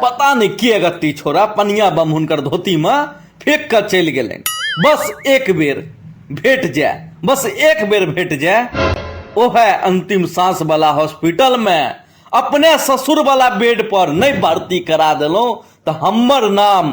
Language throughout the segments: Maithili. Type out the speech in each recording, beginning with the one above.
पता नहि के गति छोड़ा पनिया बम हुनकर धोती में फेंक कर चल गए बस एक बेर भेट जाए बस एक बेर भेट जाए ओह अंतिम सांस वाला हॉस्पिटल में अपने ससुर वाला बेड पर नहीं भर्ती करा दिलों तो हमर नाम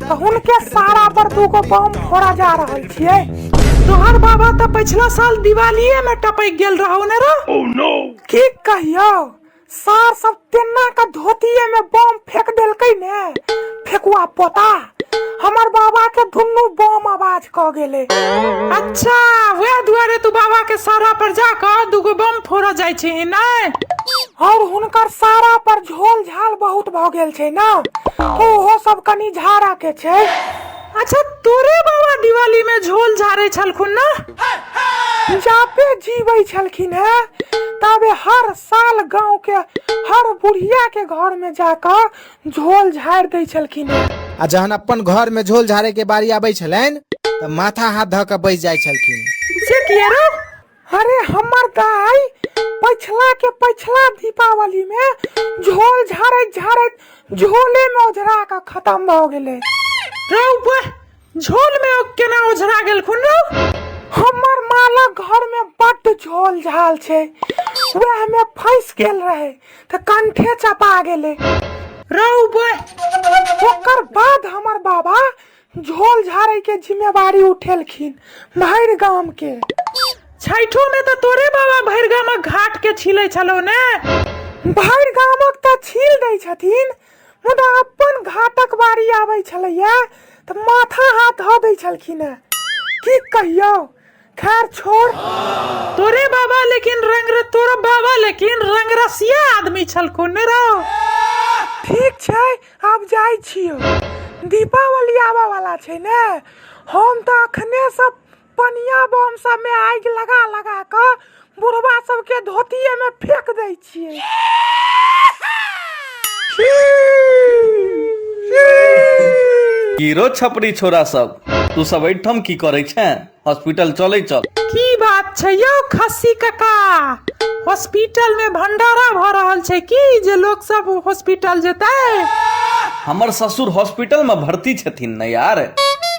तऽ हुनके सारा पर दूगो बम फोड़ा जा रहल छियै तोहर बाबा तऽ पछिला साल दिवालिये में टपकि गेल रहौ ने रे की कहियो सार सब तेना के धोतिये में बम फेंक देलकै ने फेकुआ पोता हमर बाबा के दुनू बम आवाज क गेले अच्छा वएह दुआरे तू बाबा के सारा पर जाकर दूगो बम फोड़ा जाइ छी नै और हुनकर सारा पर ढोल झाल बहुत भऽ गेल छै ने तऽ ओहो सब कनि झाड़ा के छै अच्छा तोरे बाबा दिवाली में झोल झारे छलखुन ना जापे जीवे छलखिन है तबे हर साल गांव के हर बुढ़िया के घर में जाकर झोल झाड़ दै छलखिन है आ जहन अपन घर में झोल झाड़े के बारी आबै छलनि तऽ माथा हाथ धऽ कऽ बैस जाइ छलखिन से किया रे अरे हमर दाई पछला के पछला दीपावली में झोल झाड़त झाड़त झोले में ओझरा के खत्म भ गेले रे ऊपर झोल में ओ केना ओझरा गेल खुन रे हमर माला घर में बड झोल झाल छै वह में फंस गेल रहे त कंठे चपा गेले रे ऊपर ओकर बाद हमर बाबा झोल झाड़े के जिम्मेवारी उठेलखिन भरि गाम के छठो में तो तोरे बाबा भरि गामक घाट के छिले छलो ने भरि गामक तऽ छील दै छथिन मुदा अपन घाटक बारी आबै छलैया तऽ माथा हाथ धऽ दै छलखिन हेँ की कहियौ खैर छोड़ तोरे बाबा लेकिन रंग र- तोरा बाबा लेकिन रंग रसिया आदमी छलको ने रहो ठीक छै आब जाइ छियो दीपावली आबऽ वाला छै ने हम तऽ अखने सब पनिया बम सब में आगि लगा लगा कऽ बुढ़वा सबके धोतिये में फेंक दै छियै हीरो छपरी छोरा सब तू सब एहिठाम की करे छे हॉस्पिटल चले चल की बात छै यौ खस्सी काका हॉस्पिटल में भंडारा भऽ रहल छै की जे लोग सब हॉस्पिटल जेतै हमर ससुर हॉस्पिटल में भर्ती छथिन ने यार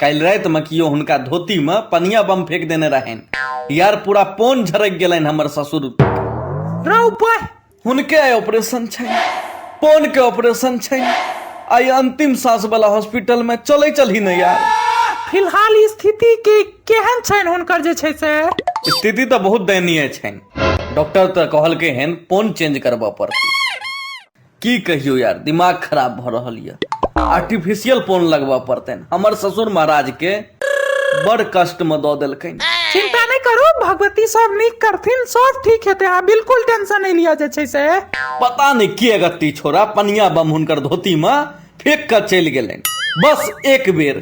काल्हि राति में कियो हुनका धोती में पनिया बम फेंक देने रहनि यार पूरा पोन झरक गेलनि हमर ससुर रौ बा हुनके आइ ऑपरेशन छनि पोन के ऑपरेशन छनि आइ अंतिम सांस वाला हॉस्पिटल में चले चलही ने यार फिलहाल ई स्थिति के केहन छनि हुनकर जे छै से स्थिति तऽ बहुत दयनीय छनि डॉक्टर तऽ कहलकै हन पोन चेंज करबऽ पड़तै की कहियौ यार दिमाग खराब भऽ रहल यऽ आर्टिफिशियल पोन लगबऽ पड़तनि हमर ससुर महाराज के बड़ कष्ट में दऽ देलखिन चिंता नहीं करू भगवती सब नीक करथिन सब ठीक हेतै अहाँ बिल्कुल टेंशन नहीं लिया जे छै से पता नहीं के अगत्ती छोरा पनिया बम हुनकर धोती में फेंक कऽ चलि गेलनि बस एक बेर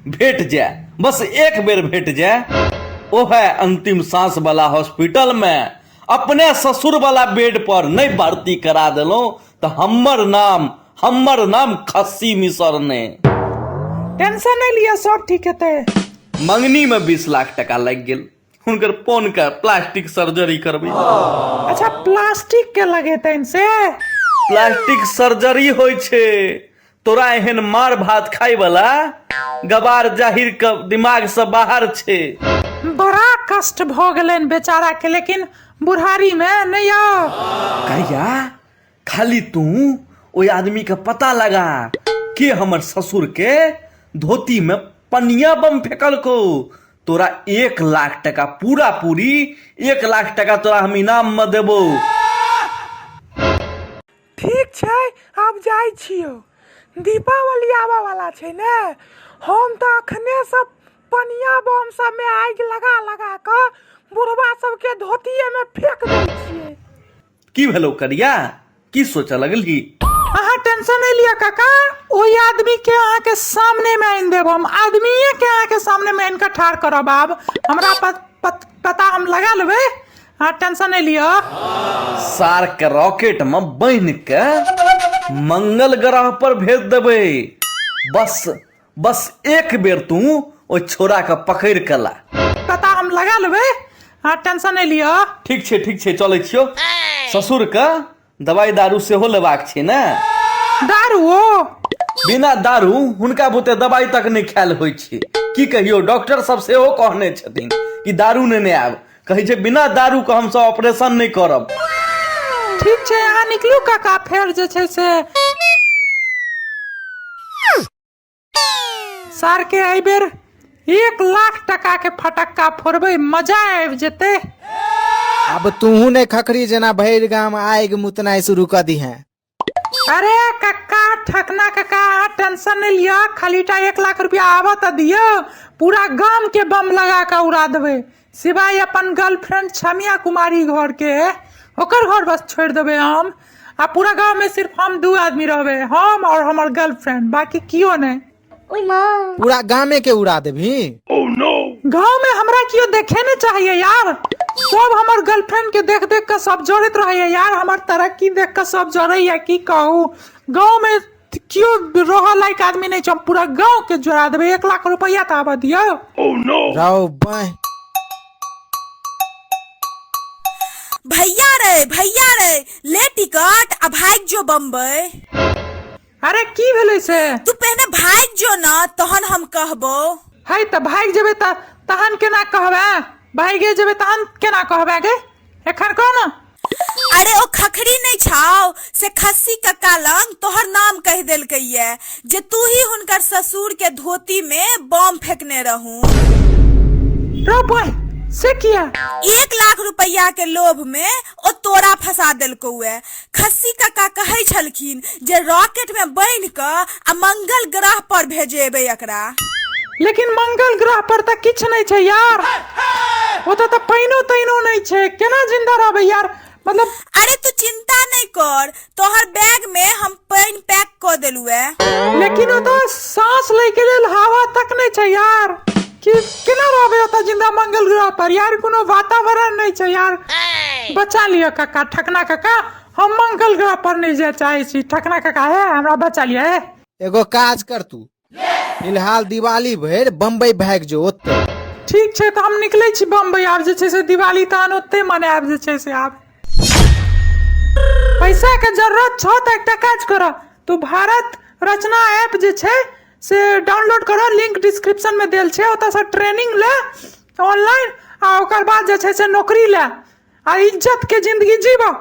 भेट जाए बस एक बेर भेट जाए ओहे अंतिम सांस वाला हॉस्पिटल में अपने ससुरवला बेडपर नहि भर्ती करा देलहुँ तऽ हमर नाम हमर नाम खस्सी मिसर ने टेंशन नहि लिअ सब ठीक हेतै मंगनीमे बीस लाख टका लागि गेल हुनकर पोन के प्लास्टिक सर्जरी करबै अच्छा प्लास्टिक के लगेतनि से प्लास्टिक सर्जरी होइ छै तोरा एहन मार भात खाय वाला गबार जाहिर के दिमाग से बाहर छे बड़ा कष्ट भऽ गेलनि बेचारा के लेकिन बुढ़ारी मे नहि यौ कहिया खाली तू ओहि आदमी के पता लगा के हमर ससुर के धोती में पनिया बम फेकल को तोरा एक लाख टका पूरा पूरी एक लाख टका तोरा हम इनाम में देबो ठीक छै आब जाइ छियौ दीपावली आबऽ वाला छै ने हम तऽ अखने से पनिया बम सबमे आगि लगा लगा कऽ बुढ़वा सबके धोतिएमे फेंक दै छियै की भेलौ करिया की सोचऽ लगलही अहाँ टेंशन नहीं लिया काका ओहि आदमी के अहाँ के सामने में आनि देब हम आदमीये के अहाँ के सामने में आनि के ठाढ़ करब आब हमरा प, प, पता हम लगा लेबै अहाँ टेंशन नहि लिअ सार के रॉकेट में बांध के मंगल ग्रह पर भेज देबै बस बस एक बेर तू ओ छोरा के पकड़ के ला पता हम लगा लेबै अहाँ टेंशन नहि लिअ ठीक छै ठीक छै चलै छियो ससुर के दवाइ दारू सेहो लेबाक छै ने दारुओ बिना दारू हुनका बुते दवाइ तक नहि खायल होइ छै की कहियो डॉक्टर सब सेहो कहने छथिन कि दारू नेने आयब कहै छै बिना दारू के हमसब ऑपरेशन नहि करब ठीक छै अहाँ निकलू काका फेर जे छै से सर के एहि बेर एक लाख टका के फटक्का फोड़बै मजा आबि जेतै अब तूहू ने खखरी जेना भैर गाम आग मुतनाई शुरू कर दी है अरे कक्का ठकना कक्का अहाँ टेंशन नहीं लिया खाली टा एक लाख रुपया आबऽ तऽ दियौ पूरा गाम के बम लगा के उड़ा देबै सिवाय अपन गर्लफ्रेंड छमिया कुमारी घर के ओकर घर बस छोड़ देबे हम आ पूरा गांव में सिर्फ हम दू आदमी रहबे हम और हमर गर्लफ्रेंड बाकी कियो नहीं ओए माँ पूरा गामे के उड़ा देबी गांव में हमरा कियो देखे नहीं चाहिए यार सब हमर गर्लफ्रेंड के देख देख के सब जोड़त रहे यार हमर तरक्की देख के सब जोड़े या की कहू गांव में तऽ केओ रहऽ लायक आदमी नहि छै हम पूरा गाँव के जोड़ा देबै एक लाख रुपैआ तऽ आबऽ दियौ रौ बाँह भैया रे भैया रे ले टिकट आ भाग जो बम्बई अरे की भेलै से तू पहले भाग जो ना तहन हम कहबो है तऽ भागि जेबै तऽ तहन केना कहबै भागे जेबै तहन केना कहबै गे एखन कह ने अरे ओ खखरी नहीं छाओ से खस्सी का कालंग तोहर नाम कह देलकै ये जे तू ही हुनकर ससुर के धोती में बम फेंकने रहू रो बॉय से किया एक लाख रुपया के लोभ में ओ तोरा फंसा देलकौ ये खस्सी काका कहै छलखिन जे रॉकेट में बन्हि कऽ आ मंगल ग्रह पर भेजेबै एकरा लेकिन मंगल ग्रह पर तऽ किछु नहि छै यार ओतऽ तऽ पानिओ तानिओ नहि छै केना जिन्दा रहबै यार मतलब अरे तू चिंता नहीं कर तोहर बैग में हम पानी पैक कर देलू है लेकिन ओतऽ साँस लै के लेल हवा तक नहि छै यार कि केना रहबै ओतऽ जिन्दा मंगल ग्रह पर यार कोनो वातावरण नहि छै यार बचा लिअ काका ठकना काका हम मंगल ग्रह पर नहीं जाए चाहे छी ठकना काका है हमरा बचा लिया है एगो काज कर तू फिलहाल दिवाली भरि बम्बई भागि जो ओतऽ ठीक छै तऽ हम निकलै छी बम्बई आब जे छै से दिवाली तहन ओते मनायब जे छै से आब पैसा के जरूरत छौ तऽ एकटा काज कर तू भारत रचना ऐप जे छै से डाउनलोड कर लिंक डिस्क्रिप्शन में देल छै ओतऽ से ट्रेनिंग ले ऑनलाइन आ ओकर बाद जे छै से नौकरी ले आ इज्जत के जिंदगी जीबह